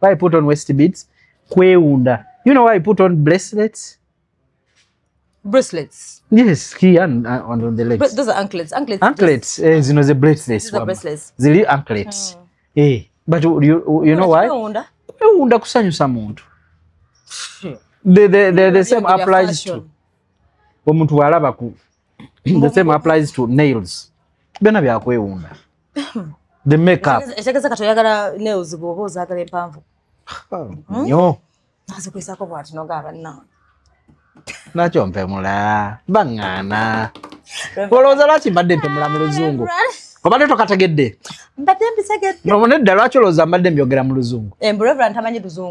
why I put on waist beads kwewunda you know why I put on bracelets bracelets yes here and, uh, and on the legs Bra those are anklets anklets anklets eh, zino ze bracelets wama zili anklets mm. eh but you, you, you know why kwewunda kusanyusa muntu the, the, the, the same applies to omuntu bwalaba ku the same applies to nails byona byakwewunda the makeup etegeza kati oyagala nails bwoba ozagala empanvu hmm? nyo nazikwisako bwati noga abanna nakyo mpemula baŋŋaana olowooza lwaki mbadde mpemula mu luzungu obadde tokategedde mbadde mbitegedde nedda lwaki olowooza mbadde mbyogera mu luzungu eh,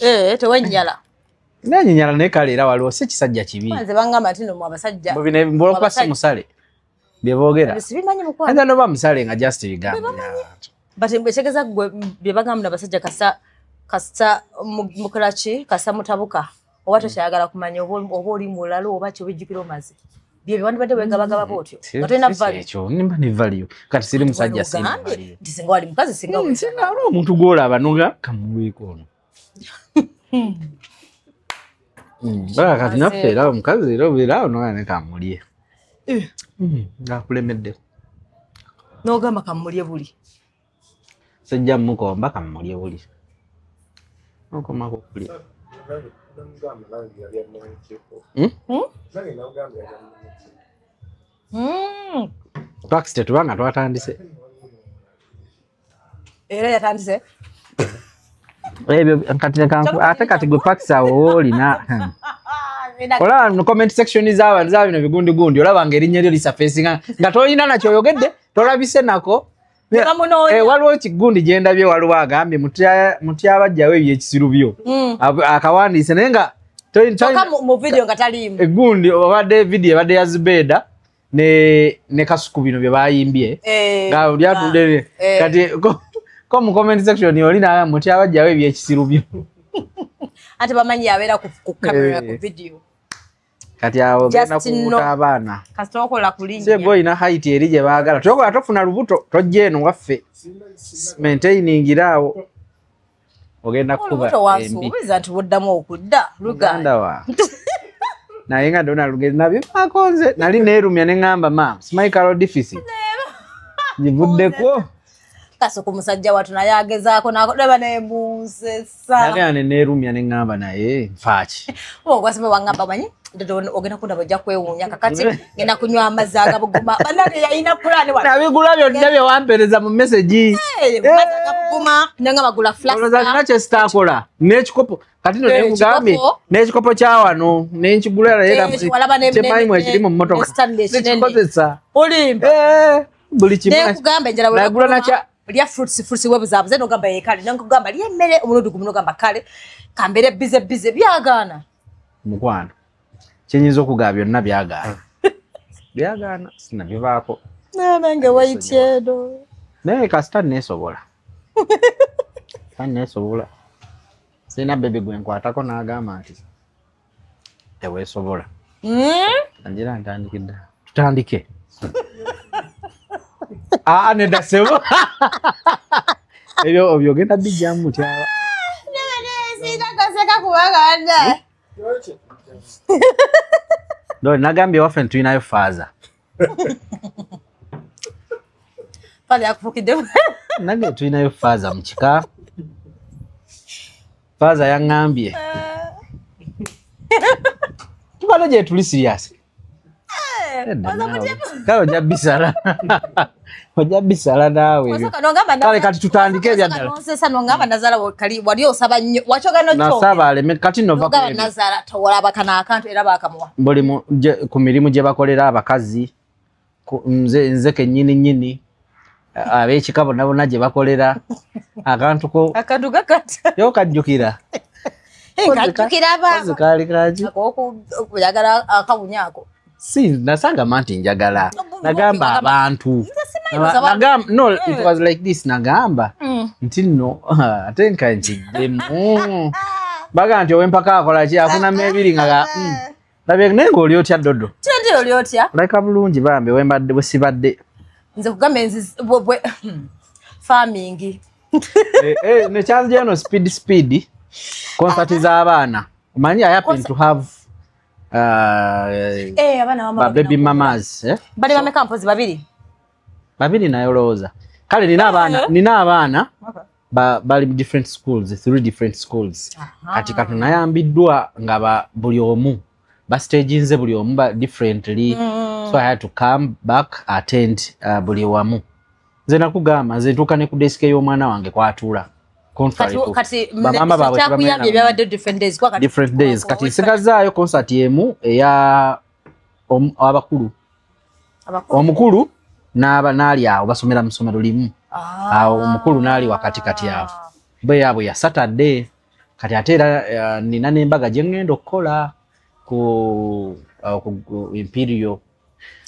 eh tewenjala nanyi nyala ne kale era waliwo si kisajja kibi nze banga matino mu abasajja mubine mbola kwa si musale bye bogera sibimanyi mukwa nda no ba musale nga just bigamba but mbe chegeza gwe bye banga mna abasajja kasa kasa mukarachi kasa mutabuka oba mm. tokyayagala kumanya oba oli mulalo oba kyo bijjukira omaze bye byewandibadde wegabagaba bwotyo mm, nga tolina valekyo nimba ne valio kati siri musajja singambye nti singa wali mukazi singa mm, singa wali omuntu gwolaba noga kamuweeko ono hmm. mm, baa kati naffe era omukazi era obeera awo noga ne kamulye eh. hmm, akulemedde nogamba kamulye buli sijja mukomba kamulye buli okoma kukuli hmm? hmm? hmm. twakisi tetubanga twatandise era yatandise ebyo kati ate kati gwe pakisi awo woolina olaba mu comment section zaba za bino bigundi gundi olaba ngeri nyeri lisa face nga nga toyina na kyoyogedde tolabise nako Eh, waliwo kigundi gyendabye waliwo agambye mutyabajjawo ebyekisiru byo mm. akawandiise naye nga egundi eh, obadde vidiyo ebadde ya zubeeda ne kasuku bino bye bayimbye eh, ah, lyatudde kati ko mu comment section oli naga mutyabajjawo ebyekisiru byo ate bamanyi yabeera ku kamera ku vidiyo kati awo ogenda Just know. kubuuta abaana kasita okola ku linnya sebo olina height eri gye baagala tokola tofuna lubuto tojja eno waffe maintainingira awo ogenda kukuba olubuto embi wansuubiza nti buddamu okudda luganda muganda wa naye nga ndona lugezi nabivaako nze nali neerumya ne ŋŋamba maam smicalo deficit ngivuddeko kasuku musajja watu naye agezaako nakolaba naye munsesanagaa neneerumya ne ŋŋamba naye nfaaki ogwasima waŋŋamba manyi ogenda kundaba ojja kwewuunya kakati ngenda kunywa amazzi agabuguma banange yalina pulaani nabigula byonna bye wampereza mu mesegi agabuguma nenga bagula flaolozalina kye sitaakola n'ekikopo kati no nekugambye n'ekikopo kya wano nenkigula naye kyemanyi mwekiri mu mmotoka nekikozesa olimba buli kimu naye kugamba enjala nagula nakya lya fruits fruits we buzabuze no gamba yekale nangu gamba lye mere omurudu gumuno gamba kale kambere bize bize byagana mukwana chenyizo okugaa byonna byagana byagana sina bivako na nange waityedo naye kasita nesobola kane sobola sina bebe gwenkwatako nagamba nti teweesobola hmm? ngira ntandikidde tutandike aa ah, nedda sebo ebyo obyogenda bijjamu mutyaba sitakaseka kubanga wadaye nagambye waffe ntulinayo faaza pale akufukiddemu nange tulinayo faaza mu kika faaza yaŋŋambye tubano gyetuli siriyasi kale ojja bisala ojja bisala naawe ebyo. kale kati tutandike ebyaddalanosesanoŋamba nazala kali wali osaba nnyo wakyogannasaba aleme kati novnazala towolaba kano akantu era bakamuwa buli ku mirimu gye bakolera abakazi nze nze kenyini nyini abekika bonabona gye bakolera akantu ko akantu kakata yo kajjukira kajjukira ba kaali kaki oyagala akawunya ako si nasanga manti njagala nagamba abantu no it eh. was like this nagamba mm. nti no ate nka nkiddemu baga nti owempaka akola ki afuna mebiri nga mm. labye naye ngaoli otya dodo leka bulungi bambi wembadde bwesibadde nze kugamba enzi hmm, farming eh, eh, nekyanzijeno speed speed konsati z'abaana omanyi i happen to have Ah, eh, Eh, abaana bamwe ba baby bagenda mamas eh? bali bameka mpozi babiri babiri naye olowooza kale nina abaana Eh. nina abaana ba- bali mu different schools three different schools kati kati nayambiddwa nga ba- buli omu bastaginze buli omu ba differently Mm. so i had to come back attend uh, buli wamu nze nakugamba nze ntuuka ne ku desike y'omwana wange kwatuula different days kati nsigazaayo concert emu eya abakulu omukulu n'aba naali awo basomera mu ssomero limu ah. awo omukulu naali wakati kati awo bwe yaabwe ya saturday kati ate era eh, nina n'embaga gye ŋŋenda okukola ku uh, imperial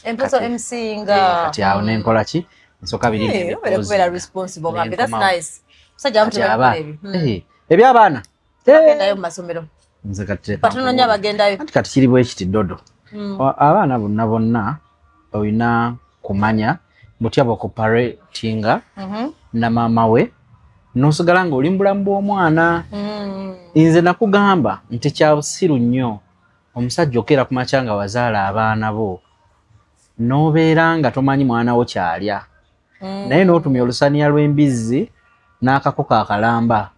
empozo mc nga eh, kati awo nenkola ki nsoka biri eh, kubeera responsible bambi that's nice musajja wamu tebakola ebyo hmm. eh, ebyabaana bagendayo mu masomero nze kati batunonya bagendayo anti kati kiri bwekiti dodo hmm. abaana bonna bonna olina kumanya butya bokoparatinga mhm. na maama we nosigala nga oli mubulamu bw'omwana hmm. nze nakugamba nti kyabusiru nnyo omusajja okeera kumakya nga wazaala abaana bo nobeera nga tomanyi mwana wo kyalya mm. naye notumya olusaniya lwembizzi n'akakoko akalamba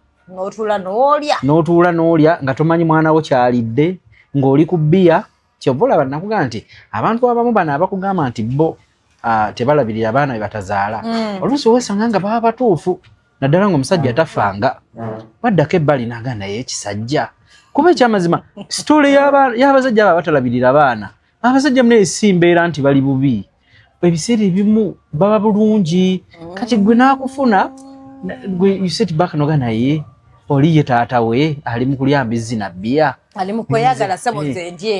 notuula n'olya nga tomanyi mwana wo kyalidde ng'oli ku bbiya kyova olaba nakugamba nti abantu abamu bano abakugamba nti bo ah, tebalabirira abaana bebatazaala mm. oluusi wesanga nga baba batuufu naddala ngaomusajja tafanga baddako ebbali naga naye ekisajja kuba ekyamazima sitole yabasajja abo abatalabirira abaana abasajja muna esimbeera nti bali bubi ebiseera ebimu baba bulungi mm. kati gwe nakufuna gwe uset back noga naye oli ye taata we ali mu kulya mbizzi na bbiya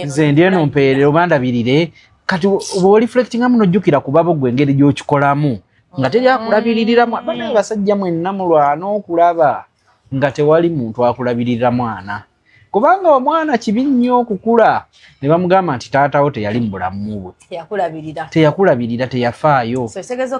nze ndi eno mpeerere obandabirire kati bwoli flectinga muno jjukira kubabo gwe engeri gyokikolamu nga teri akulabirira mwana bana abasajja mwenna mulwana okulaba nga tewali muntu akulabirira mwana kubanga omwana kibi nnyo okukula ne bamugamba nti taatawo teyali mu bulamu bwe teyakulabirira teyafaayo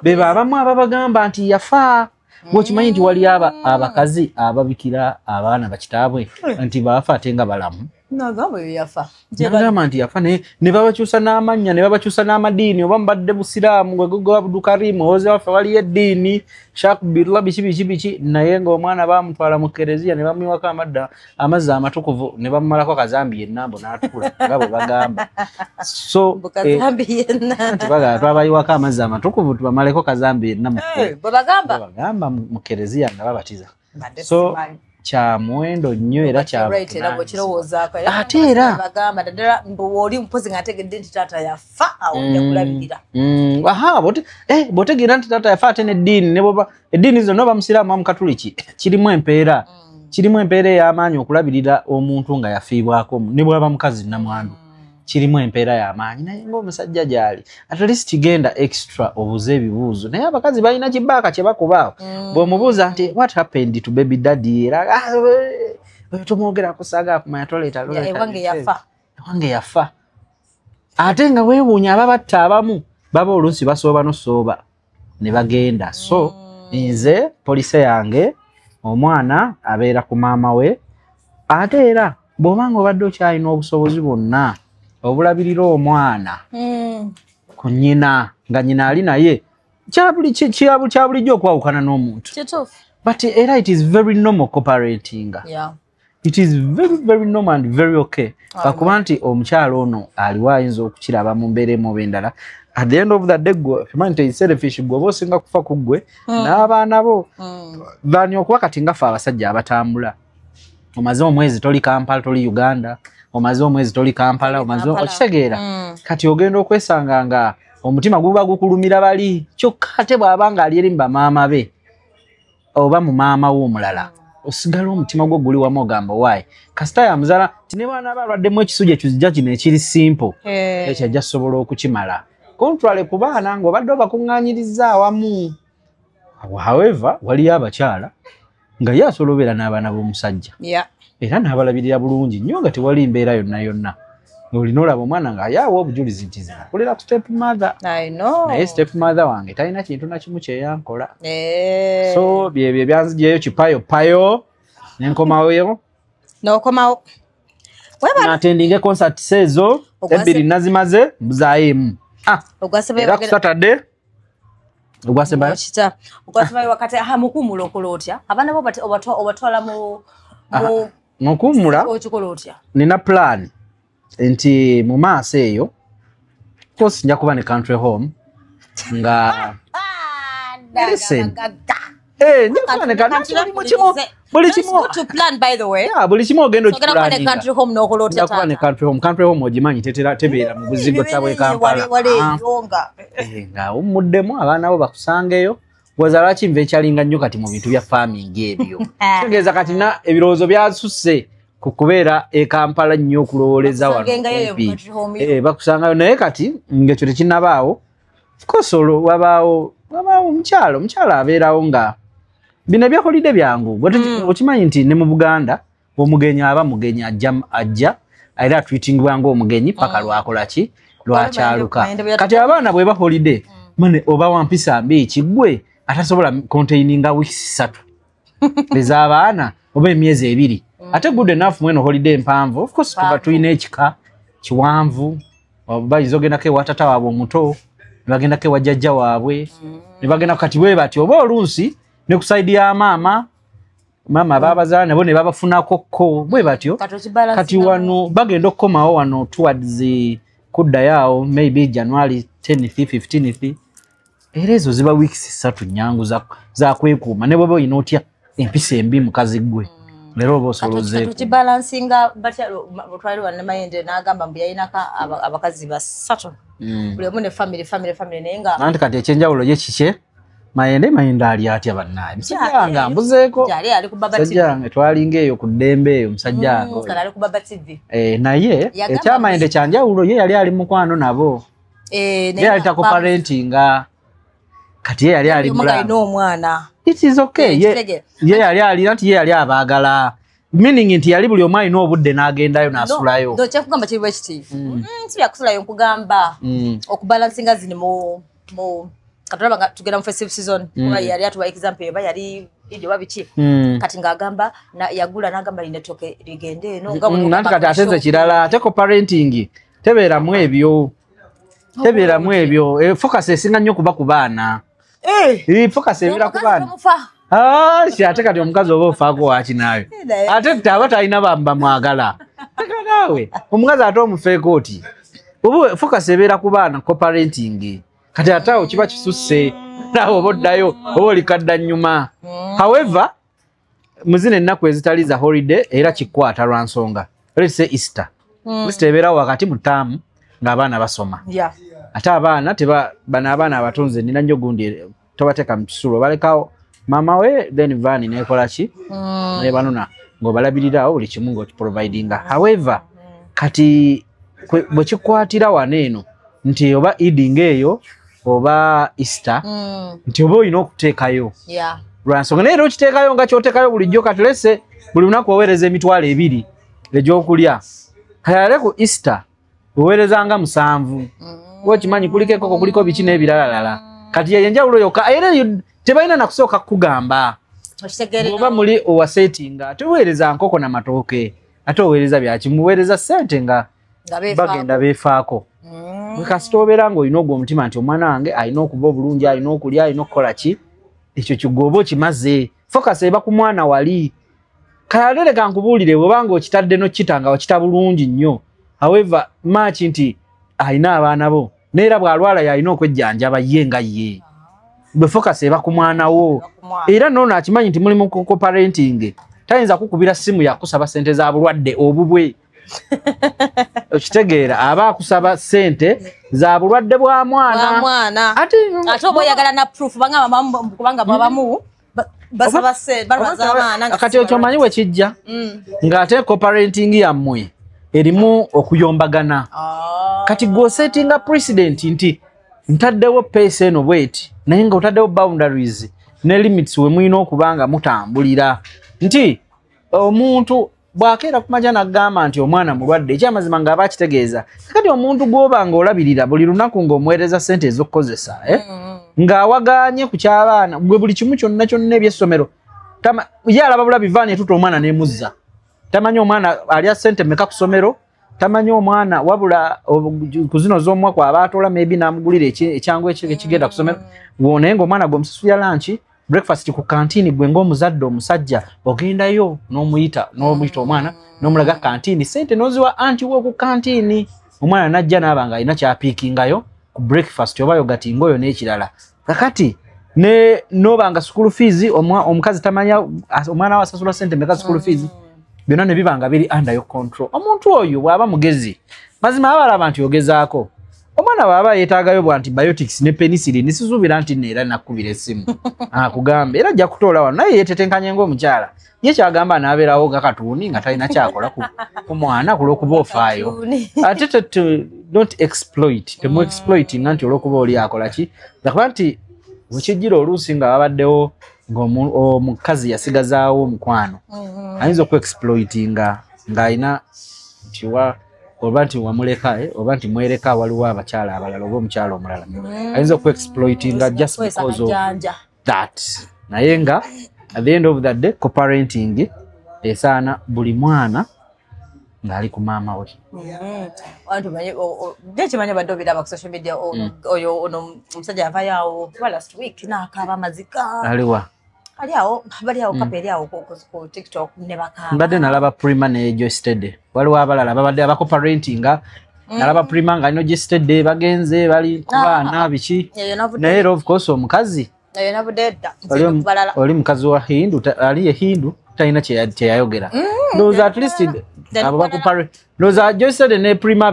beba abamu ababagamba nti yafa bwekimanyi nti waliyo abakazi ababikira abaana bakitaabwe nti baafa ate nga balamu nagamba oyo yafa nagamba nti yafa naye ne babakyusa n'amannya ne babakyusa n'amadiini oba mubadde busiraamu gwegogo abdukarimu owoze waffe waliyo eddiini shakbirla biki biki biki naye ng'omwana bamutwala mu kereziya ne bamuyiwako amadda amazzi amatukuvu ne bamumalako kazambi yennambo n'atukula nga bwe bagamba so eh, bagamba twabayiwako amazzi amatukuvu tubamaleko kazambi yenna eh, bwebagamba mu kereziya nga babatiza so kya muwendo nnyo era kyaate era oli mpozi nga ategedde nti taata yafa awojakulabirira mm, mm. aha eh, botegeera nti taata yafa ate neddiini neboba eddiini zino noba musiraamu wa mukatuliki kirimu empeera mm. kirimu empeera ey'amaanyi okulabirira omuntu nga yafiibwako ne bwaba mukazi namwandu kirimu empeera y'amaanyi naye ngaomusajja gyali at least genda extra obuuze ebibuuzo naye abakazi balina kibaaka kye bakubaawo mm. bw'omubuuza nti what happened to baby daddy era ah, eh, oyo tomwogera kusaaga akumanya toleeta ewange yafa ate nga weewuunya ababatta abamu baba oluusi basooba nosooba ne bagenda so mm. nze police yange omwana abeera ku maama we ate era bw'oba nga obadde okyalina obusobozi bwonna obulabirira omwana mm. ku nyina nga nyina ali naye kyabulijjo okwawukana n'omuntu but era it is very normal cooperatinga yeah. it is very very normal and very okay kakuba nti omukyalo ono aliwo ayinza okukiraba mu mbeera emu oba endala at the end of the day gwe okimanyi nti selfish gwe oba osinga kufa ku ggwe mm. n'abaana bo mm. bani okuba kati nga fe abasajja abatambula omaze omwezi toli kampala toli uganda omaze omwezi toli kampala omaze okitegeera mm. kati ogenda okwesanga nga omutima guba gukulumira bali kyokka ate bw'aba nga ali eri mu bamaama be oba mu maama wo omulala osigala omutima gwo guli wamu ogamba owaayi kasita yamuzala nti ne baana ba alwaddemu ekisuja ekizija kino ekiri simple eh. ekyo ajja sobola okukimala kontwale ku baana ng'obadde obakuŋŋanyiriza awamu however waliyo abakyala nga ye asobola obeera n'abaana b'omusajja era n'abalabirira bulungi nnyo nga tewali mbeera yonna yonna olina olaba omwana nga ayawa obujulizi nti zinakulira ku step mother naye step mother wange talina kintu nakimu kyeyankola eh. so byebyo ebyanzijeyo kipayo payo nenkomawoyo nokomawo natendinge concert seezo ebbiri nazimaze mbuzayo emu ah, era ku saturday ogwasembayo ogwasembayo wakati aha mukumulokola otya abaana bo obatwala mu ah, nokuwumula nina plan nti mu maaso eyo course nja kuba ne country home nga eh, buli kimu ogenda okikulaniakubanecountry home ogimanyi tetera tebeera mu buzigo tabwekampala ah. eh, nga wummuddemu abaana bo bakusangeyo gwaza lwaki nva ekyalinga nnyo kati mu bintu bya farming ebyo tegeeza kati na ebirowoozo byasusse ku kubeera ekampala nnyo okulowooleza wanobi eh, bakusangayo naye kati ngaekyo tekinabaawo course olwo wabaawo wabaawo omukyalo omukyalo abeerawo nga bino ebyakolidde byangu hmm. okimanyi nti ne mu buganda omugenyi aba mugenyi ajja ajja era atwitingibwa ngaomugenyi paka mm. lwakola ki lwakyaluka kati abaana bweba holiday mm. mane oba wampisa mbi ekigwe atasobola containinga weeks satu ez'abaana oba emyezi ebiri mm. ate good enough mweno holiday mpanvu ofcourse tuba tulina ekika kiwanvu bayinza ogendako ewatata waabwe omuto nebagendako ewajjajja waabwe nebagenda kati bwe bati oba olunsi ne kusaidi ya maama maama abaabazala nabo ne babafunako kko bwe batyo kati wano bagenda okukomawo wano towards kuddayo awo maybe january 10 15 era ezo ziba weeks ssatu nyangu zakwekuuma ne bweba olina otya empisa embi mukazi gwe leero oba osolozeekibalansinga batya otwali wanamayende n'agamba mbu yalinako abakazi basatu mm. buli omu ne famiry famiry famiry naye nga anti kati ekyenjawulo ye kikye mayende mayende ali atya bannaye musajja wange ambuzeeko musajja wange twalinga eyo ku ddembe eyo musajja mm, wange eh, naye ekyamayende eh, kyanjawulo ye yali ali mukwano nabo eh, ye yali takoparentinga kati ye yali ali mulaomwana ye yali alina nti ye yali abaagala meaning nti yali buli omu alina obudde n'agendayo n'asulayo kyakugamba kiri bwekiti mm. mm, si byakusulayo nkugamba mm. okubalansinga zini mu mu katulaba nga tugenda mu festive season mm. kuba yali atuwa example eba yali ijo babiki mm. kati nga agamba na yagula na agamba line toke ligende no nga mm, nanti kati ateze kirala ate ko parenting tebera mu ebyo oh, tebera mu ebyo e, focus esinga nyo kuba kubana eh hey, focus ebira kubana Ah, si ate kati omukazi oba ofaako waki naawe ate tte aba talina bamwagala teka naawe omukazi ate omufeeko oti oba fokasi ebeera ku baana coparenting kati ate awo kiba kisusse naawe oba oddayo oba olikadda nnyuma however muzina ennaku ezitali za holiday era kikwata lwa nsonga let's say easter mm. easter ebeerawo wakati mu taamu ng'abaana basoma yeah. ate abaana teba bano abaana abatonze nina nnyo gundi tobateeka mu kisulo balekawo maama we then vaani nekola ki mm. nebanona ngaobalabirirawo buli kimu ngaokiprovidinga however kati bwe kikwatira wano eno nti oba eding eyo oba easter mm. nti oba olina okuteekayo lwansonga naye era okiteekayo nga kyoteekayo bulijjo katulese buli lunaku oweereza emitwalo ebiri egyokulya kayale ku easter weweerezanga musanvu mm. okimanyi kuliko ekoko kuliko biki n'ebiralalala kati yeyo enjawulo yokka era tebalina nakusooka kukugamba oba muli owasetinga teweereza nkoko na matooke ate oweereza byaki muweereza sente nga bagenda beefaako mm. kasita obeera ngaolina ogwo omutima nti omwana wange alina okuba obulungi alina okulya alina okukola ki ekyo kigooba okimaze focus eba ku mwana wali kayalele kankubulire bwebanga okitadde nokita nga okita bulungi nnyo however maki nti alina abaana bo neera bwalwala yalina okwejjanjaba ye nga ye bwe focus eba ku mwana wo era noono akimanyi nti mulimu kukoparentinge tayinza kukubira simu yakusaba sente za bulwadde obubwe okitegeera aba akusaba sente za bulwadde bwa mwana ate oba oyagala na proof banga kubanga babamu kati okyomanyi wekijja mm. ng'ate coparenting yammwe erimu okuyombagana ah. kati gwosetinga president nti ntaddewo peesa eno bweti naye nga otaddewo boundaries ne limits wemulina okuba nga mutambulira nti omuntu bwakeera ku maja nagamba nti omwana mulwadde ekyamazima ngaaba akitegeeza kakati omuntu gwoba nga olabirira buli lunaku ngaomuweereza sente ezokukozesa eh? mm. ngaawaganye ku kyabaana gwe buli kimu kyonna kyonna ebyessomero ye alaba bulabi vaani etuta omwana nemuzza tamanyi omwana alya sente meka ku somero tamanyi omwana wabula kuzino zomwa kwa batola maybe namugulira ekyangu ekigenda kusomera wone ngo mwana gomsasuya lunch breakfast ku canteen gwe ngo muzadde omusajja ogenda yo nomuyita nomuyita omwana nomulaga canteen sente noziwa anti wo ku canteen omwana najja nabanga ina kya picking ayo ku breakfast obayo gati ngoyo nekirala kakati ne noba nga school fees omwa omukazi tamanya omwana wa sasula sente meka school fees mm. byona ne bibanga biri under your control omuntu oyo bwaba mugezi mazima abala abantu yogezako omwana baba yetaga yo bwanti biotics ne penicillin ne sizubira anti nera nakubira esimu akugambe ah, era jakutola wa naye yetetenkanye ngo omukyala ye kyagamba naberawo nga katuuni nga talina kyakola ku mwana kulwokuba ofaayo ate don't exploit temu mm. exploitinga nti olwokuba oli akola ki akuba nti wekijjira oluusi nga babaddewo ngaomukazi yasigazaawo omukwano mm-hmm. ayinza okuexploitinga ngaalina ntiwa oba nti wamuleka eh, oba nti mwereka waliwo abakyala abalala oba omukyala omulala mm. ayinza okuexploitinga just because of that naye nga at the end of the day coparenting esaana buli mwana ngaali ku maama we ekimanya badde obiraba ku social media mm. oyo ono omusajja avayo awo kuba last week nakaaba amazika aliwa ali awo bali awo mm. kapa eri awo ku tiktok ne bakaaba mbadde nalaba prima ne joy steady waliwo abalala babadde abakoparentinga Mm. nalaba prima nga alina ogisitedde bagenze bali ku baana ah. biki naye era ofcourse omukazi oli mukazi wa hindu ali ye hindu talina kyeyayogera mm, ndowooza at least abo bakupare ndowooza joisede ne prima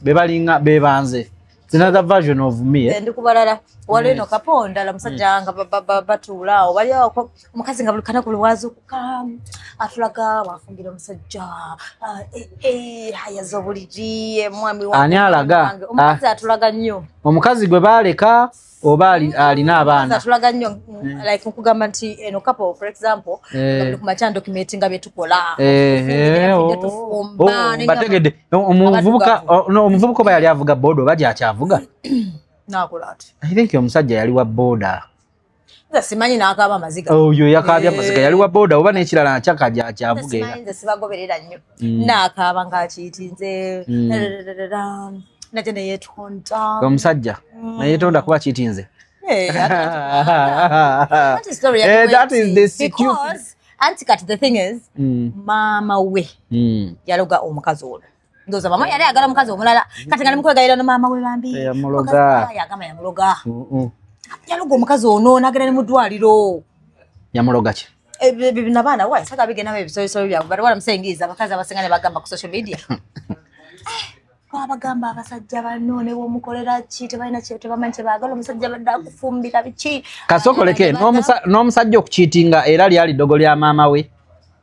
bebalinga bebanze another version of me eh? ndi kubalala waliwo eno kapo ndala musajja mm. nga batuula awo baliawo omukazi nga buli kanaku lwazukuka atulaga wafumbira omusajja ah, eh, eh, hayaza obuliri eh, mwami ani alaga omukazi ah. atulaga nnyo omukazi gwe baaleka oba alina abaana atulaga nnyo mm, like nkugamba nti eno kapo for example kumakya dokumenti nga byetukola bategedde omuvubuka oba yali avuga boda oba gyakyavuga nakola ati i think omusajja yali wa boda nze simanyi n'akaaba amaziga oyo yakaabye amaziga yali wa boda oba n'ekirala akyaka akyavuga era nze sibagoberera nnyo mm. n'akaaba ng'akiyitinze mm. nate neyetonda omusajja mm. neyetonda kuba kiyitinze eh, anti kati the thing is maama we yaloga omukazi ono ndoza mama yale agala mukazi omulala kati ngali mukwega yale no mama we bambi ya muloga ya gama ya muloga mhm ya lugo mukazi ono nagera ni mudwaliro ya muloga ki e eh, bibi na bana wa saka bige nawe bisoyi soyi ya bari wala msengiza bakaza basengane bagamba ku social media kwa bagamba abasajja bano ne wo mukolera ki tebalina kye tebamanye bagala omusajja badde akufumbira biki kasokoleke n'omusajja okukiitinga era lyali dogo lya maama we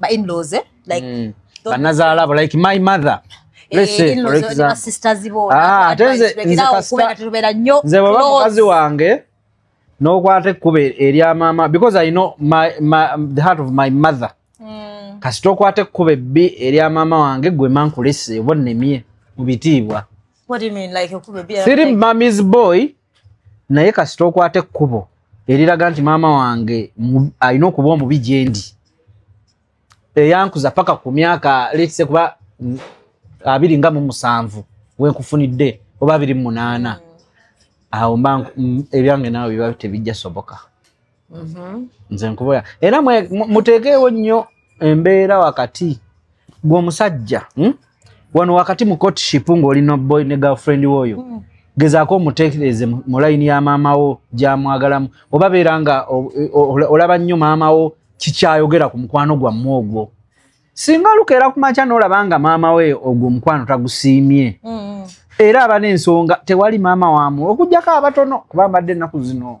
ba inlaws eh? like mm. banazaala abo like my mother eh, ah, nze bwaba mukazi wange n'okwata ekkuba erya maama because i know my, my, the heart of my mother mm. kasita okwata ekkuba ebbi erya maama wange gwe mankulese oba nnemye mu bitiibwa siri mami's boy naye kasita okwata ekkubo eriraga nti maama wange alina okuba omubi gyendi eyankuza paka ku myaka letse kuba mm, abiri nga mu musanvu wenkufunidde oba abiri mu munaana awo mba mm, ebyange naawe biba tebijja soboka mm-hmm. nze nkuboya era muteekeewo nnyo embeera wakati gwomusajja hmm? wano wakati mu courtship ng'oli noboy ne girlfriend woyo mm. gezaako omutekereze mu layini ya maama wo gyamwagalamu oba beera nga olaba nnyo maama wo kikyayogera ku mukwano gwammwe ogwo singa olukeera kumakya n'olaba nga maama we ogwo omukwano tagusiimye mm. era aba n'ensonga tewali maama wamu okugyako abatono kuba mbadde ennaku zino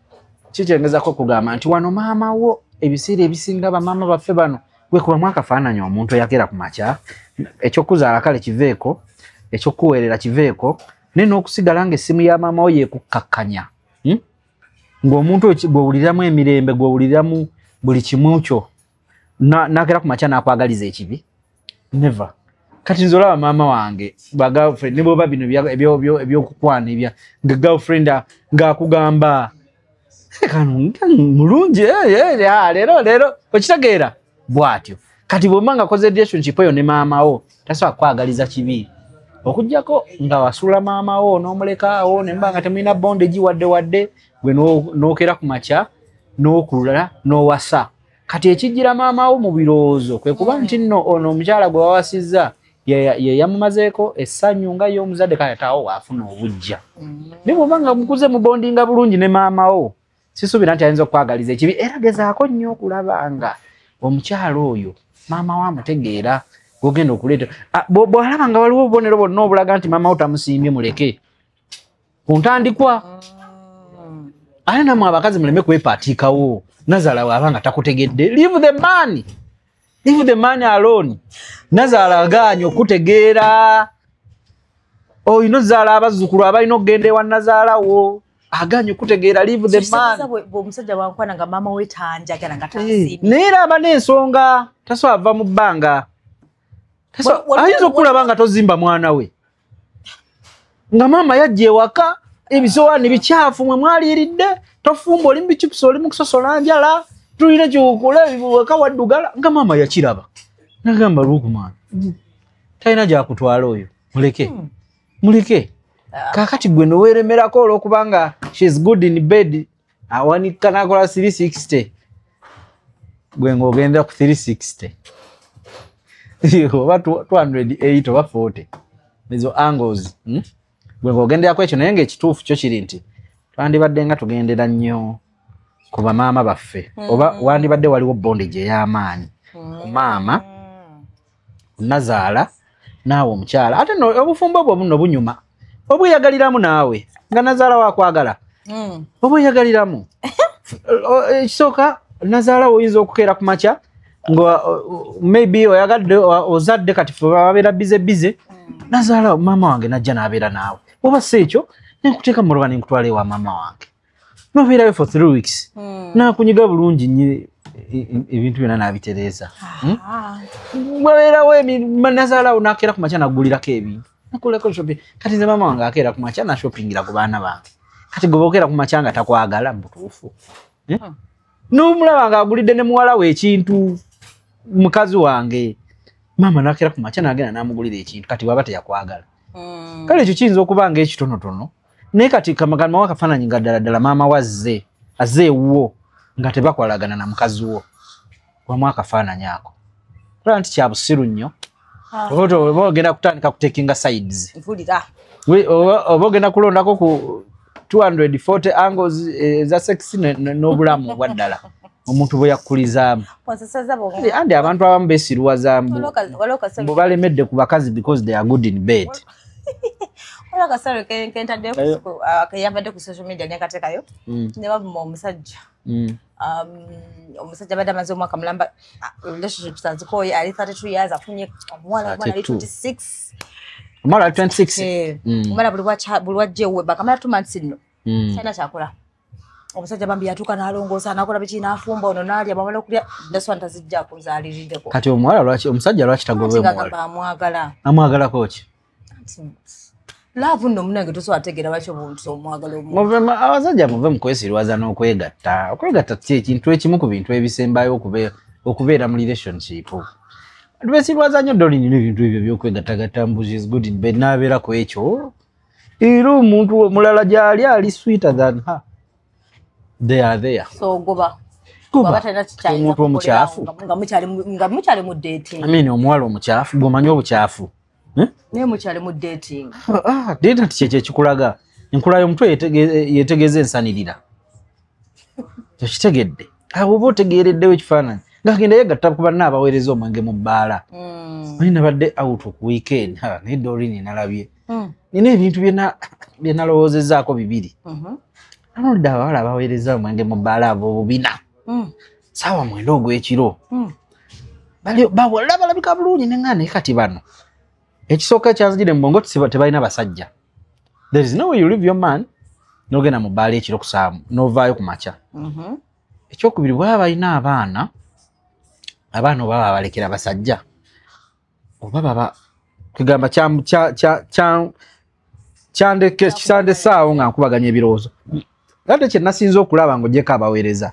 kikyengezako okugamba nti wano maama wo ebiseera ebisinga bamaama baffe bano gwekubamu akafaananyi omuntu eyagera ku makya ekyokuzaala kale kiveeko ekyokuweerera kiveeko naye n'okusigala nga essimu ya maama wo yekukkakkanya hmm? ng'omuntu gwewuliramu emirembe gwewuliramu buli kimu kyo nakera kumakya nakwagaliza ekibi never kati nze olaba maama wange ba girlfriend ne bwoba bino ebyokukwana ebya nga girlfriend ngaakugamba mulungi eh, eh, eh, ah, leero leero okitegeera bwatyo kati bwemba nga koze relationship eyo ne maamawo tasobola kukwagaliza kibi okujjako nga wasula maamawo n'omulekaawo nemba nga temulina bonde gi wadde wadde gwe n'okera ku makya n'okulula n'owasa kati ekijjira maama wo mu birowoozo kwe kuba mm. nti nno ono omukyala gwe wawasizza ye yamumazeeko essanyu nga ye omuzadde kale taawo waafuna obujja mm. naye bwoba nga mukuze mubondinga bulungi ne maama wo sisuubira nti ayinza okukwagaliza ekibi era gezaako nnyo okulaba nga omukyala oyo maama wo amutegeera gwogenda okuleeta bw'alaba nga waliwo obubonero bwonna obulaga nti maama wo tamusiimye muleke ku ntandikwa ate namwe abakazi muleme kwepaatiikawo nazaala waaba nga takutegedde leave the man leave the man alone nazaala agaanyi okutegeera olina oh, ozaala abazzukulu abalina okugenda ewa nazaala wo aganye okutegeera live the man omusajja wankwana nga maama we tanjagala nga eh, naye era aba n'ensonga tasobola ava mu bbanga ayinza okukulaba nga tozimba mwana we nga maama yajja ewaka ebisowaani bikyafu mwe mwaliiridde tofumba oli mubicupusa oli mukusosola njala tulina kyokula waka waddugala nga maama yakiraba nagamba lukman talina gyakutwala oyo muleke hmm. muleke kakati gwe noweremerako olwokubanga shes good in bed awanika nakola 360 gwe ngaogenda ku 360 oba 208 oba 40 ezo angles hmm? gwe ngaogenderaku ekyo naye ngaekituufu kyo kiri nti twandibadde nga tugendera nnyo ku bamaama baffe oba mm-hmm. wandibadde waliwo bondage ey'amaanyi ku maama mm. nazaala naawe omukyala ate no obufumbo obwo buno bunyuma obweyagaliramu naawe nga nazaala wakwagala mm. obweyagaliramu ekisooka nazaala oyinza okukeera ku makya nga maybe oyagadde ozadde kati fe babeera bize bize mm. nazaala maama wange najja nabeera naawe oba si ekyo nenkuteeka muloba nenkutwala ewa maama wange nobeerayo for three weeks hmm. nakunyiga bulungi nyo e, e, ebintu byona nabitereeza hmm? ah. wabeerawo nazalawo nakeera ku makya nagulirako ebintu nakulako shopping kati nze maama wange akeera ku makya nashoppingira ku baana bange kati goba okeera ku makya nga takwagala mubutuufu eh? hmm. nomulaba nga agulidde ne muwala we ekintu mukazi wange maama nakeera ku makya nagenda namugulira ekintu kati waba teyakwagala kale ekyo kiyinza okuba nga ekitonotono naye kati kamagamba wa kafaananyi nga ddala ddala maama wazze azze ewuwo nga tebakolagana na mukazi wo wamu akafaananyi ako olaba nti kya busiru nnyo ah. oba ogenda kutandika kutekinga sides oba ogenda kulondako ku 240 angles eh, eza sex n'obulamu obwa ddala omuntu bwe yakkulizaamu andi abantu abamu besiruwazambu balemedde ku bakazi because they are good in bed waliwo akasale kentadde keyavadde ku social media nekatekayo mm. ne bavuma omusajja mm. um, omusajja abadde amaze omwaka mulamba ah, relationships azikooye ali 32 years afunye omuwala omwana ali 26 omwana ali 26 omwana buli wajja ewebaka mala tumansi nno mm. kyana kyakola omusajja bambi yatuuka nalongoosa nakola biki nafumba ono nalya bamala okulya daswa ntazijjako nzalirideko kati omuwala lwaki omusajja lwaki tagobeagamba amwagala amwagalako ki laavu nno munange tosobola tegeera lwaki obuntu omwagala omuvema abasajja muve mu kwesirwaza n'okwegatta okwegatta ti ekintu ekimu ku bintu ebisembayo okubeera mu relationship lwesirwaza nnyo dolini n'ebintu ebyo byokwegattagatta mbuzi is good in bed n'abeera ku ekyo era omuntu omulala gyali ali sweeter than her they are there so ogoba omuntu omukyafu nga mukyali mu dating i mean omuwala omukyafu gwomanyi obukyafu hmm? naye mukyali mu dating ah, ah, date nti kyekyo ekikulaga enkula y'omutwe yetegeeza ensanirira okitegedde awo oba otegeereddewo ekifaananyi ngagenda yegatta ku banna abaweereza omwenge mu bbaala mm. naye nabadde out ku weekend naye dorini nalabye mm. nina ebintu byenalowoozezaako bibiri mm-hmm. anolidde abawala abaweereza omwenge mu bbaala abo obubina mm. saawa mwenda ogw'ekiro bawala balabika bulungi neŋaa naye kati bano ekisooka ekyazijire mubongo tebalina basajja there is no way you leave your man nogenda mu bbaala ekiro kusaamu novaayo ku makya mm-hmm. ekyokubiri bwaba balina abaana abaana oba babalekera basajja oba baba kugamba kyandesaawo nga nkubaganya ebirowoozo ate kyenasinza okulaba nga ojeko abaweereza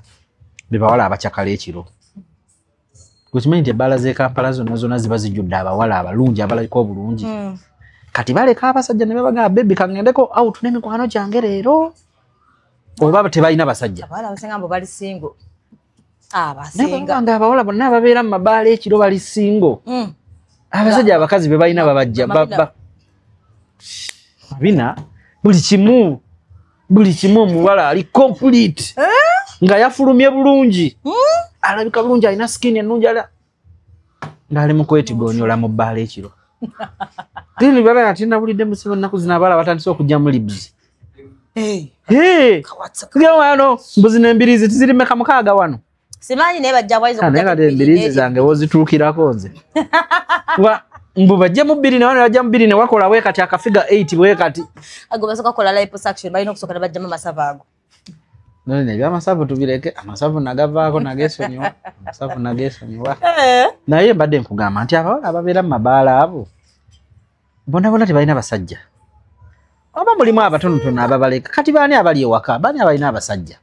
bebawala abacakala ekiro okimanyi nti ebbaala zekampala zonna zonna ziba zijjudde abawala abalungi abalabika obulungi hmm. kati baleka abasajja ne babagamba bebi kaŋendeko out n'emikwano gyange leero oba tebalina basajja nga abawala bonna ababeera mu mabaala ekiro bali singo hmm. abasajja abakazi be balina babajja bina buli kimu buli kimu omuwala ali complete eh? nga yafulumye bulungi hmm? alabika bulungi alina skin ennungi ala ngaali mukwetigonyola mu bbaala ekiro tini bala yati nabulidde musiba ennaku zino abaala batandise okujja mu libs wano mbuzi nembirizi tizirimeka mukaaga wano simanyi naye bajja bwaiza ah, naye kati embiriizi zange wozituukirako nze mbu bajje mu bbiri nawe nebajja mu bbiri newakola we kati akafiga 8 bwe kati ago basooka kola liposuction balina okusooka ne bajjamu amasavu ago none ne byamasavu tubireke amasavu nagavaako nagesonyiwa amasavu nagesonyiwa eh. naye mbadde nkugamba nti abawala ababeera mu mabaala abo bonabona tebalina basajja oba mulimu abatonotono ababaleka kati baani abali ewaka baani abalina abasajja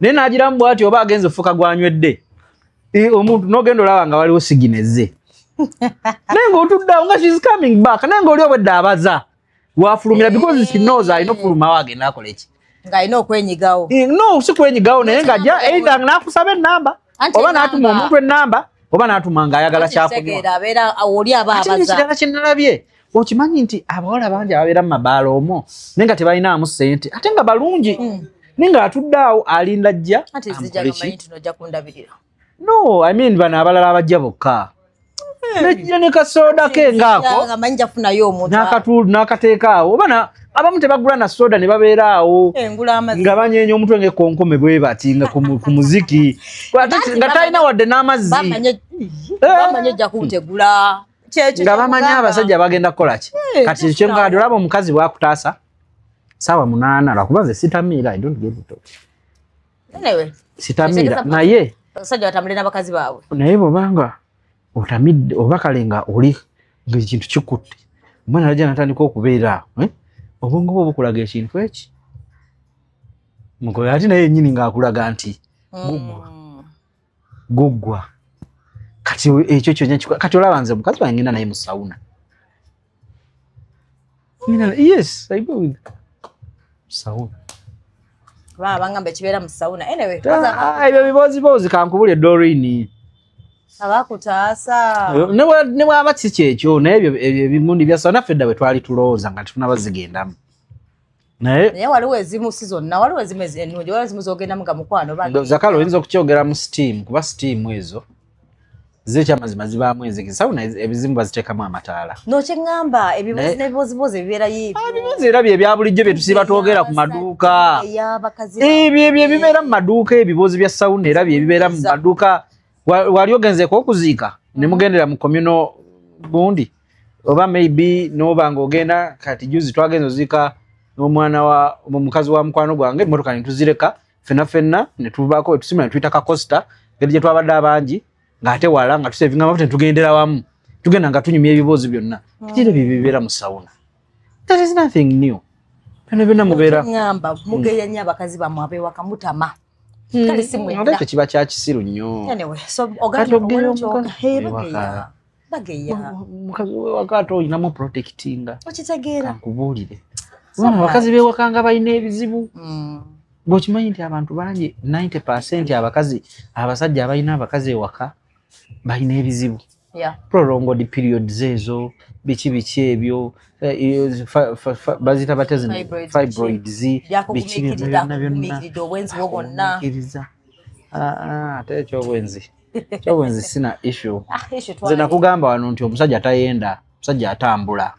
naye nagiramu bwati oba agenza ofuka gwanywedde omuntu nogenda olaba nga waliwo sigineze naye nga otuddawo nga shes coming back naye nga oli obwedde abaza wafulumira because she knows alina okufulumawo agenda akola eki ngaalina okwenyigawo eh, no si kwenyigawo naye nga ja eitha nakusaba enamba oba natuma omuntu enamba oba natuma nga ayagala kyakunywa kirala kyenalabye okimanyi nti abawala bangi ababeera mu mabaala omwo naye nga tebalinaamu sente ate nga balungi mm. naye nga atudde awo alinda jja no i mean bano abalala abajja bokka hmm. nejja ne kasooda ke ngaaknakateeka awo obana abamu tebagula na soda ne babeera awo eh, nga banyeenya omutwe ngaekonkome bwe bati nga ku muziki nga talina wadde n'amazzi nga bamanyi abasajja bagenda kukolaki eh, kati kyenkade olaba omukazi bwakutaasa saawa munaana lwakuba nze sitamiira i don't give to sitamiira naye abasajja batambule n'abakazi baabwe naye bwobanga otamidde oba kale nga oli ngaekintu kikutte omwana alaja natandika okubeera eh? obwongo bwe obukulaga ekintu eki mugoyo ate naye yenyini ngaakulaga nti mm. gugwa guggwa kati ekyo kyona kati olaba nze mukazi wange ngenda naye mu sauna yes i go with sauna babangamba ekibeera mu sauna anyway ah, ah, ebyo bibooziboozi kankubule dorini abakutaasa ne bwaba kikyekyo naye ebyo ebimundi byasawa naffe dda bwe twali tulowooza nga tetunabazigendamu naye naye waliwo ezimu si zonna waliwo ezimu ennungi waliwo ezimu zogendamu nga mukwano zakala oyinza okukyogera mu steam kuba steam ezo zekyamazima zibaamu enzigi sawuna ebizimu baziteekamu amataala nokyeŋŋamba ebibozi nebibozibozi ebibeera yibibozi ah, era bye ebya bulijjo bye tusiiba twogera ku maduuka ebyo ebyo ebibeera mu maduuka ebibozi bya sawuna era bye ebibeera mu maduuka wali ogenzeko okuziika ne mugendera mu communo gundi oba maybe noba ng'ogenda kati juzi twagenza ozika n'omwana wa omukazi wa mukwano gwange emmotoka netuzireka fenna fenna netuvaako wetusima netuyita kakosta ngeri gye twabadde abangi ng'ate wala nga tusevinga mafuta netugendera wamu tugenda nga tunyumya ebiboozi byonna hmm. kitiro bye bibeera mu sawuna that is nothing new byona byonna mubeerangamba mugeya nnyo abakazi bamwe abewaka mutama hmm. kale simwekyo kiba kyakisiru nnyo kati ogeya omukazi bageya mukazi wewaka ate olinamu protectinga okitegeera nkubuulire bona abakazi bewaka nga balina ebizibu mm. bwekimanyi nti abantu bangi 90 percent abakazi abasajja abalina abakazi ewaka balina ebizibu prolonged periods ezo biki biki ebyo eh, eh, bazita batezi fibroids biki byonna byonna ate ekyobwenzi kyobo nze sina issue ah, nze nakugamba wano nti omusajja atayenda omusajja atambula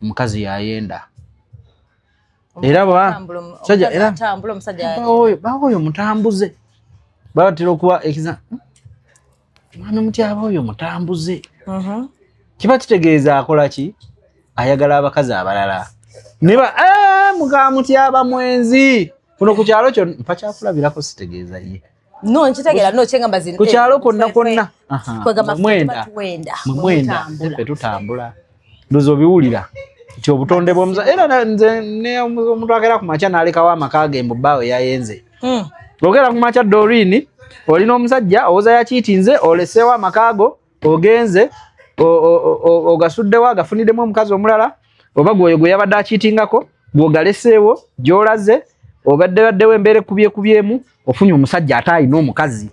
omukazi yayenda era baoyo mutambuze batera okuba ekiza mwana mutyaba oyo mutambuze mhm. kiba kitegeeza akola ki ayagala abakazi abalala neba eh, mukamutyaba mwenzi kuno ku kyalo kyo mpakyakulabirako sitegeeza ye no nkitegera no kyengamba zino ku kyalo konna konna kwegamba mwenda mwenda mwenda fe tutambula ndozo biwulira nti obutonde bwomuza era nze ne omuntu agera ku makya nalekawo amaka ge mbu bawo yayenze hmm. ogera ku makya dorini olina omusajja owoza yakiitinze oleseewo amaka go ogenze ogasuddewo agafuniddemu omukazi omulala oba gwoyo gwe yabadde akiitingako gwogaleseewo gyolaze obadde baddewo embeera ekubyekubyemu ofunye omusajja ate alina omukazi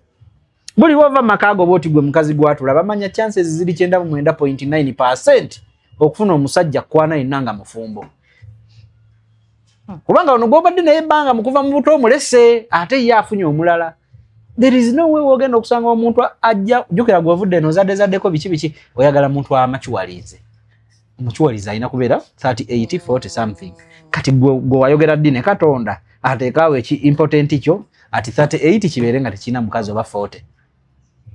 buli wova mumaka ago bwoti gwe mukazi gwatula bamanya chances ziri 99.9 okufuna omusajja kwana yenna nga mufumbo hmm. kubanga ono gwobadde naye ebbanga mukuva mu buto omulese ate ye afunye omulala there is no way wogenda okusanga omuntu ajja jukira gwovudde eno zadde zaddeko biki biki oyagala muntu amakiwalinze omukiwalize alina kubeera 38 40 something kati gwe wayogera ddi ne katonda ateekaawo eki important kyo ati 38 kibeere nga tekirina mukazi oba 40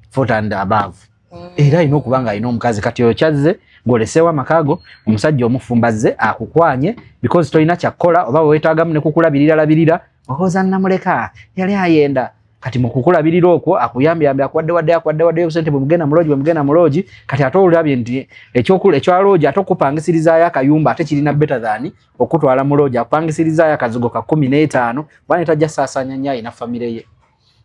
fotand above mm. era alina okuba nga alina omukazi kati oyo kyazze ng'oleseewo amakaago omusajja omufumbazze akukwanye because tolina kyakukola oba wewetaagamu ne kukulabirira labirira ohooza nnamuleka yali ayenda kati mukukulabirira okwo akuyambyambe akuwadde wadde akuwadde wadde obusente bwemugenda muloogi bwemugenda muloogi kati ate olabye nti ekyaloogi ate okupangisirizaayo akayumba ate kirina beta than okutwala muloogi akupangisirizaayo akazigo ka kumi n'etaano kuba netajja saasaanya nyo ayina famire ye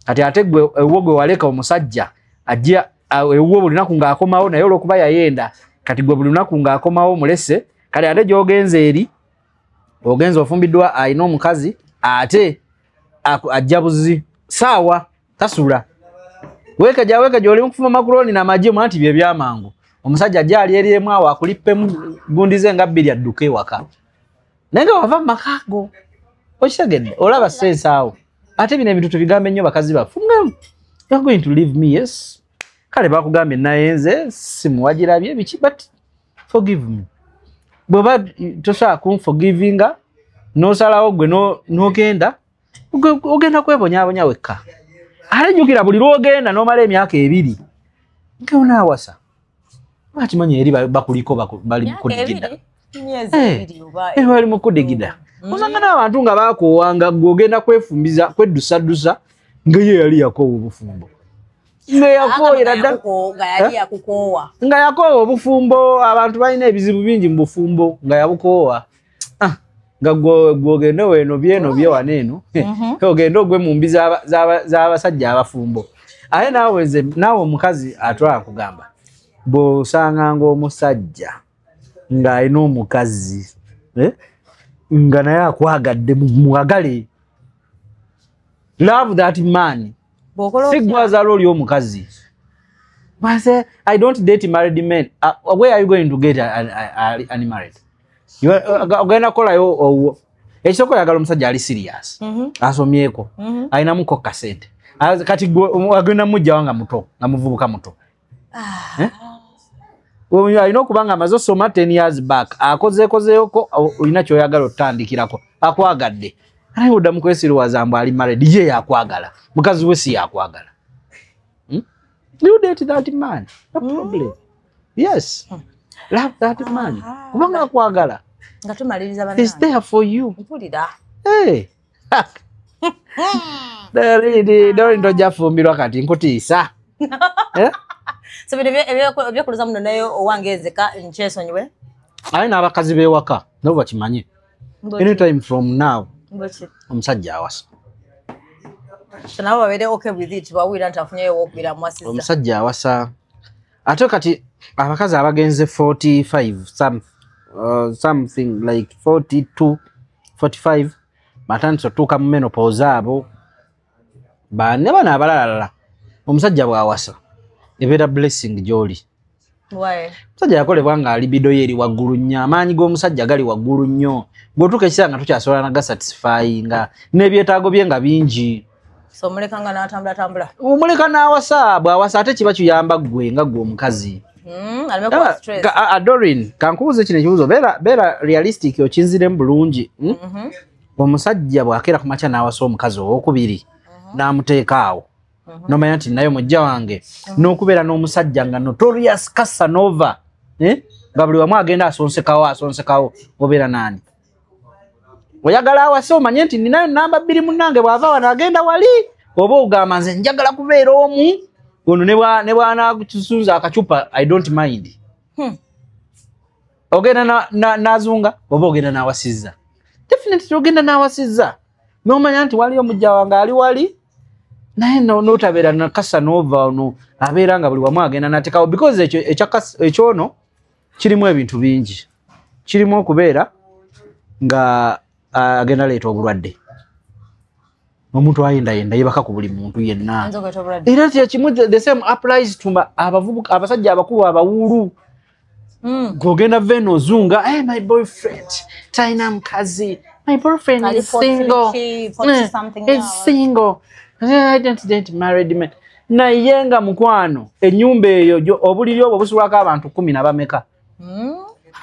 kati ate gwe ewuwo gwe waleka omusajja ajja ewuwo buli lunaku ng'akomawo naye olwokuba yayenda kati gwe buli lunaku ng'akomawo omulese kati ate gy'ogenza eri ogenza ofumbiddwa alina omukazi ate ajja buzi saawa tasula wekeja wekeja oli mukufuma makuroni na maji mwanti bye byamangu omusajja ajja ali eri emu awo akulippemu gundize nga bbiri adduke waka naye nga wava mu maka ago okitegedde olaba sense awo ate bino ebintu tubigambe nnyo bakazi baffe you're going to leave me yes kale bakugambye naye nze simuwagirabye biki but forgive me bweba tosobola kunforgivinga nosalawo gwe nogenda ogenda kwebonyabonya wekka ate jjukira buli lwogenda nomala emyaka ebiri ngeonaawasa bakimanyi eri bakuliko bali mukudigida eh, eh, bali mukudigida mm. osanga n'abantu nga bakoowanga gwe ogenda kwefumbiza kweddusaddusa ngaye yali yakoowa obufumbo nga yakooyera dda nga yakoowa obufumbo abantu balina ebizibu bingi mu bufumbo nga yabukoowa ah, nga gwogende weno byeno byewana eno mhm. ogende ogwe mu mbi z'abasajja abafumbo aye naawe nze naawe omukazi atwala kugamba bw'osanganga omusajja ng'alina omukazi eh, nga naye akwagadde mwagale love that man sigwazala oli omukazi i don't date married men uh, where are you going to get an, an, an, an married ogenda kukolayo owuwo ekisoko yagala omusajja ali sirias mhm. asomyeko mhm. alinamuko kasente kati agenda mujjawa nga muto nga muvubuka muto ah. eh? alina okuba nga amaze osoma ten years back akozeekozeeko olina kyoyagala otutandikirako akwagadde naye oddamu kwesiriwaza mbu ali mared ye yakwagala mukazi we si yakwagala hmm? you date that man no hmm? problem mm. yes hmm. love that man ah. kubanga akwagala nga tumaliriza bana is there for you mpulira hey Daridi, dori ndo jafumbirwa kati nkutiisa. Eh? So bino byekuluza muno naye owange ezeka nkyesonyiwe. Aye n'abakazi b'ewaka nabo bakimanye. Anytime from now. Mboki. Omusajja awasa. Nabo babeere okay with it bawulira nti afunyeyo w'okubeera mwasiza. Omusajja awasa. ate kati abakazi abagenze 45 some, uh, something like 42 45 batandise otuuka mu menopose abo bane bano abalalalala omusajja bwawasa ebeera blessing gyoli omusajja yakolebwa nga alibido ye eri waggulu nnyo amaanyi g'omusajja gali waggulu nnyo gwetuuka ekisaa nga tukyasobola nagasatisfyinga n'ebyetaago bye nga bingi so muleka nga natambula tambula omuleka nawasa bwawasa ate kiba kiyamba gwe nga gwe omukazi hmm, adorin kankubuuza kino ekibuzo beera realistic okinziremu bulungi hmm? mhm. omusajja bwakeera ku makya nawasa omukazi owokubiri mhm. namuteeka awo mhm. nomanya nti naye omujja wange nokubeera n'omusajja nga notorious casanova eh? nga buli wamu agenda asonsekawo asonsekawo obeera nani oyagala awase omanye nti ninayo namba bbiri munange bwava wano agenda wali oba ogamba nze njagala kubeera omu ono ne bwanakisunza akacupa i don't mind hmm. ogenda nazunga oba ogenda nawasizza definitely ogenda nawasizza nomanya nti waliyo mujja wange ali wali naye notabeera nakasa nova ono abeera nga buli wamu agenda natekawo because ekyono kirimu ebintu bingi kirimu okubeera nga agenda leeta obulwadde omuntu ayendayenda yebaka ku buli muntu yenna era kyekimu the same applies to abavubuka abasajja abakulu abawuulu hmm. gogenda veno ozunga hey, eh, my boyfriend talina mukazi my boyfriend is single. Is eh, single. I don't date married men. naye nga mukwano enyumba eyo obuliri obwo busulwako abantu kumi nabameka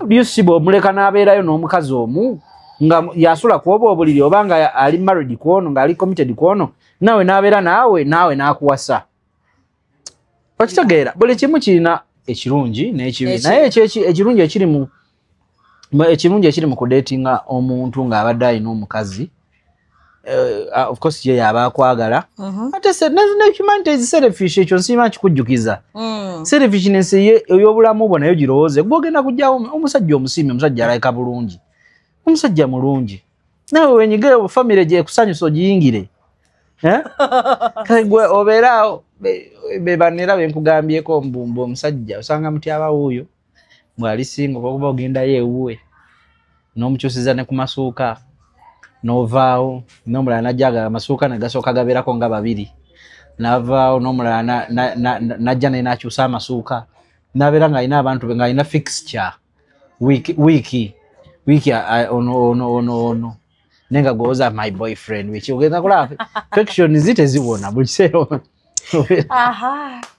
bisiba hmm? omuleka nabeerayo n'omukazi omu nga yasula kuoba obuliri oba nga ali married kwono nga ali committed kwono nawe nabeera naawe naawe nakuwasa okitegeera buli kimu kirina ekirungi n'ekibi naye ekirungi ekiri mu ekirungi ekiri mu kudeetinga omuntu ng'abadde alina omukazi eh, ah, ofcourse ye yaba akwagala mhm. ate humanity is selfish ekyo nsiima kikujjukiza mm. selfishness ey'obulamu bwo nayo girowooze gwe ogenda kujjawo omusajja omusiimi omusajja alayika bulungi omusajja mulungi nawe wenyige famire gyekusanyusa ogiyingire eh? gwe obeeraawo bebanera benkugambyeko mbumba omusajja osanga mutyabawuuyo bwali singa obakuba ogendayo ewuwe nomukyusiza ne ku masuuka novaawo nomulala najjaga amasuuka negasooka gabeerako nga babiri navaawo nomulala najja naye nakyusa amasuuka nabeera ngaalina abantu be ngaalina fixture wiiki wiiki wiiki ono ono ono ono naye nga gwowoza my boyfriend wiki ogenda kulaba fixtion zi teziwona buli kiseera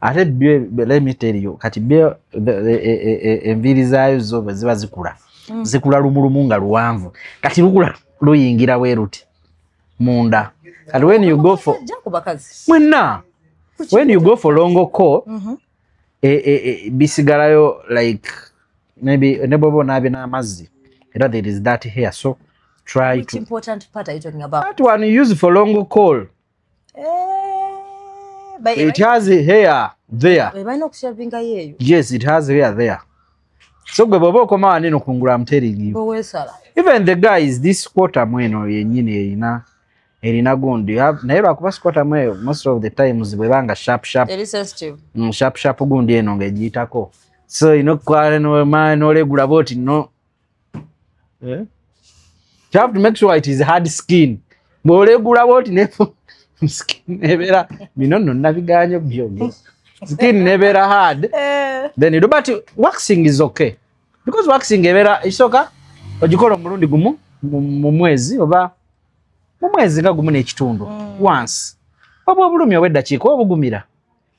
ate let me tell you kati e, e, e, enviiri zaayo zo bwe ziba zikula mm. zikula lumulumu nga luwanvu kati lukula luyingira weruti munda kati when you go for mwenna when you go for longo co mm-hmm. bisigalayo like maybe ne bwoba onaabe n'amazzi era there is that here so try to, that one use for longo call Eh, it has hair there yes it has hair there so gwe bwoba okoma waneno kungula amteringi even the guy is this quarter mweno yenyini erina erina gundi naye lwakuba sikwata mweyo most of the times bwebanga sharp sharp mm, sharp sharp gundi eno ngejiyitako so ino kwale nolegula boti no eh? you have to make sure it is hard skin bwolegula bwoti ne skin ebera bino no nabiganyo byonyo skin nebera hard eh. then you do but waxing is okay because waxing ebera isoka ogikola omulundi gumu mu mwezi oba mu mwezi nga gumu n'ekitundu mm. once obwo obulumi obweddakiika obugumira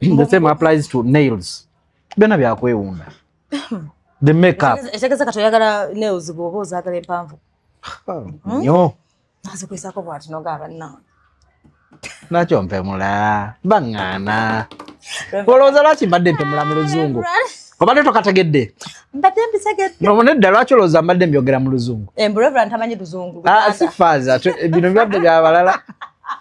the same applies to nails byona byakwewunda the makeup etegeza kati oyagala nails bwoba ozagala empanvu hmm? nyo nazikwesako bwati nogaaba nawe nakyo mpemula baŋŋaana olowooza lwaki mbadde mpemula mu luzungu obadde tokategedde mbadde mbitegedde nedda lwaki olowooza mbadde mbyogera mu luzungu eh, ah, si faaza bino bibadde byabalala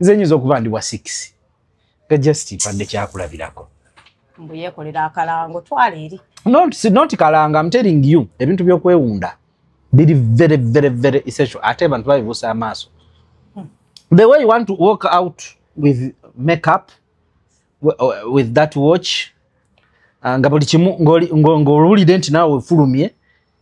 nze nyinza okuba ndi wa six nga just mpadde kyakulabirako mbu yekolera akalango twala eri not, not kalanga am telling you ebintu byokwewunda biri very very very essential ate abantu babibuusa amaaso hmm. the way you want to walk out with makeup with that watch ah, nga buli kimu ng'owulidde nti naawe ofulumye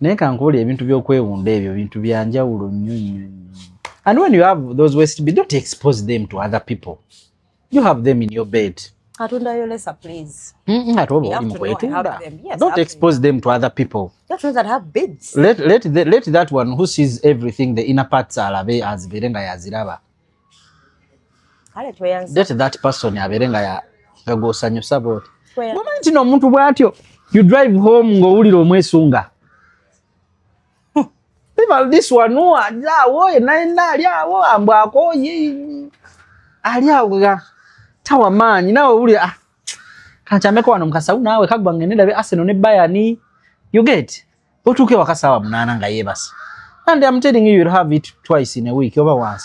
naye kankuwuli ebintu byokwewunda ebyo bintu byanjawulo nnyo nnyo and when you have those west be don't expose them to other people you have them in your bed atundayo lesa please ate oba oli mukwetunda don't expose them to other people let, let, the, let that one who sees everything the inner parts alabe azibeere nga yaziraba kale tweyanze date that person abeere nga ya- nga gw'osanyusa bw'oti tweyanze mumanyi nti n'omuntu bw'atyo you drive home ng'owulira omwesunga people this one who ali awo yenna yenna ali awo ambu akooye ali awo nga tawa maanyi nawe owulira ah, kankyameko wano mukasawu naawe kaggwa ngende ndabe arsenal ne bayani you get otuuke waka saawa munaana nga yeebase and am telling you you'll have it twice in a week oba once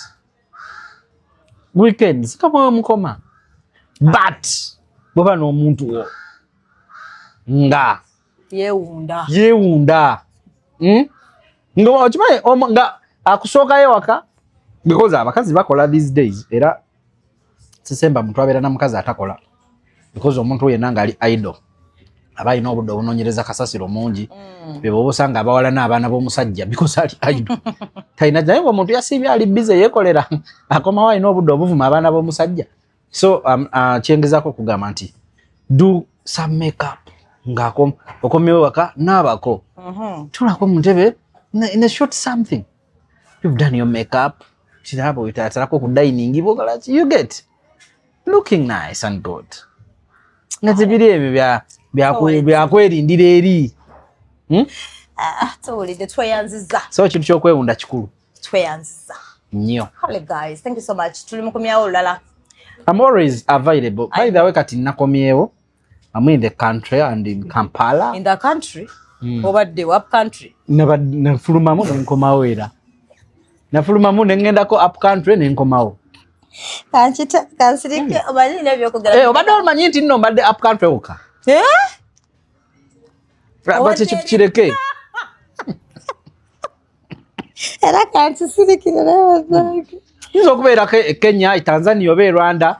weekends kamwewe mukoma but bweba n'omuntu wo nga yewunda yewunda hmm? nga okimanyi nga akusookayo ewaka because abakazi bakola these days era sisemba muntu abeera na mukazi atakola because omuntu oyo yenna ngaali idol aba alina obudde obunonyereza kasasiro omungi mm. beboba osanga abawala n'abaana b'omusajja because ali idol talina naye nga omuntu yasiibye ali bize yekolera akomawo alina obudde obuvuma abaana b'omusajja so um, uh, kyengezako okugamba nti do some makeup ngaokomewo waka naabako uh-huh. tulako muntebe ne short something you've done your makeup kirabo wetatalako ku dining bogala ki you get looking nice and good nga tebiri ebyo bya- byaku- byakwelindira eri Hmm? Ah, tuwulidde tweyanziza so ekintu kyokwewunda kikulu tweyanziza nnyo kale guys thank you so much tuli mukumyawo olulala I'm always available. By the way, kati nakomyewo. I'm in the country and in Kampala. In the country? Mm. Over the up country? Never nafulumamu ne nkomawo era. Nafulumamu ne ngenda ko up country ne nkomawo. Kanchita kansirike hmm. omanyi ne byo kugala. Eh obadde omanyi nti no mbadde up country oka. Eh? Bati chipchireke. Era kansirike ne byo. Nzo kubera ke Kenya, Tanzania obe Rwanda.